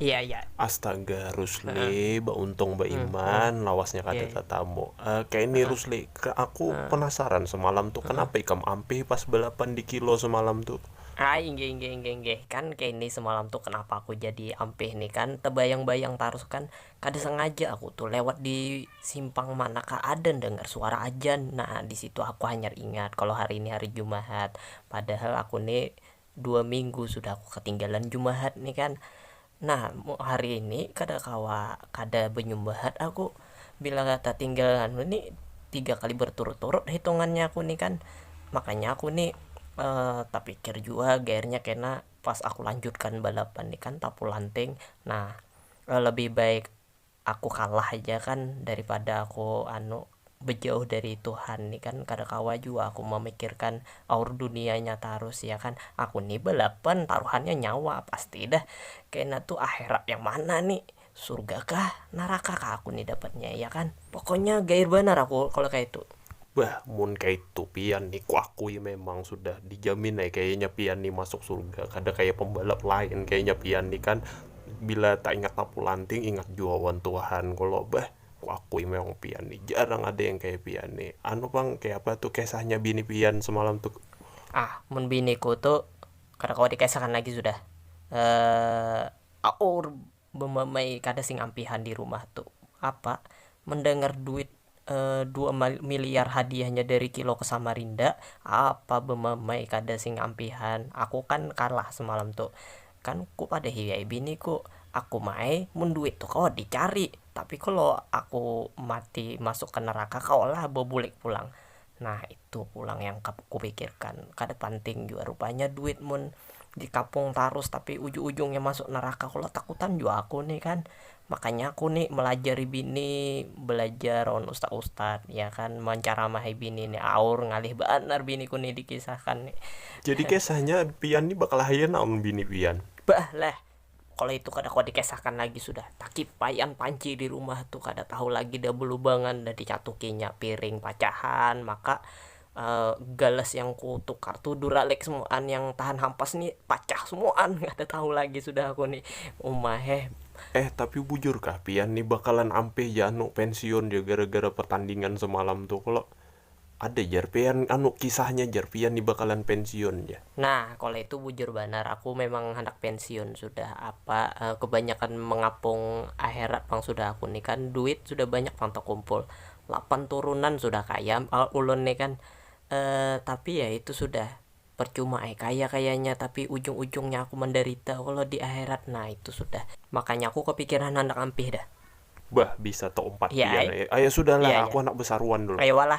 Iya iya. Astaga Rusli, bauntung baiman, lawasnya kada iya. tatamu. Uh, kayak ini Rusli, ke aku penasaran semalam tuh kenapa ikam ampih pas balapan di kilo semalam tuh. Ah, inggih inggih inggih inggih. Kan kayak ini semalam tuh kenapa aku jadi ampih nih kan tebayang-bayang tarus kan kada sengaja aku tuh lewat di simpang mana kah ada dengar suara ajan. Nah, di situ aku hanya ingat kalau hari ini hari Jumat. Padahal aku nih dua minggu sudah aku katinggalan jumahat nih kan, nah hari ini kada kawa kada banyumbahat aku bila tatinggal anu nih tiga kali berturut-turut hitungannya aku nih kan, makanya aku nih tapikir jua gairnya kena pas aku lanjutkan balapan nih kan tapulanting nah lebih baik aku kalah haja kan daripada aku anu bejauh dari tuhan ni kan kada kawa jua aku mamikirkan aur dunianya tarus ya kan aku ni balapan taruhannya nyawa pasti dah kena tu akhirat yang mana ni surga kah neraka kah aku ni dapatnya ya kan pokoknya gair banar aku kalo kaya itu. Bah, mun kaitu pian ni kuakui memang sudah dijamin ai kayanya pian ni masuk surga, kada kaya pembalap lain kayanya pian ni kan bila taingat tapu lanting ingat jua wan Tuhan kalo bah, kuakui memang pian ni jarang ada yang kaya pian ni, anu pang kayapa tu kesahnya bini pian semalam tu. Ah, mun biniku tu kada kawa dikesahakan lagi sudah, aur. Bemamai kada sing ampihan di rumah tu apa mendengar duit dua miliar hadiahnya dari kilo ke samarinda apa bemamai kada sing ampihan aku kan kalah semalam tu kan ku padahi ai bini ku aku ma ai mun duit tu kawa di cari tapi kalo aku mati masuk ke neraka kawa lah bebulik pulang nah. Tu pulang yang kupikirkan, kada panting jua rupanya duit mun dikapung tarus tapi ujung-ujungnya masuk neraka kalo takutan jua aku nih kan, makanya aku nih melajari bini belajar lawan ustad-ustad ya kan menceramahi bini nih aur ngalih banar biniku nih dikisahkan nih. Jadi kisahnya pian nih bakalahi anak lawan bini pian? Bah leh. Kalo itu kada kawa dikisahkan lagi sudah, takipaian panci di rumah tu kada tahu lagi dah belubangan dah dicatukinya piring pacahan, maka gelas yang ku tukar tu duralex muan yang tahan hampas ni pacah semuaan kada tahu lagi sudah aku ni uma heh. Eh tapi bujur kah pian ni bakalan ampih ja anu pensiun ja gara-gara pertandingan semalam tu kalo? Ada jar pian anu kisahnya jar pian ni bakalan pensiun jar. Nah kalo itu bujur banar aku memang handak pensiun sudah apa kebanyakan mengapung aherat pang sudah aku ni kan duit sudah banyak pang takumpul lapan turunan sudah kaya pang ulun ni kan tapi ya itu sudah percuma ai kaya kayanya tapi ujung ujungnya aku mandarita kalo di aherat nah itu sudah makanya aku kapikiran handak ampih dah. Bah bisa taumpat pian ai. Aya sudah lah aku handak besaruan dulu. Aya wala.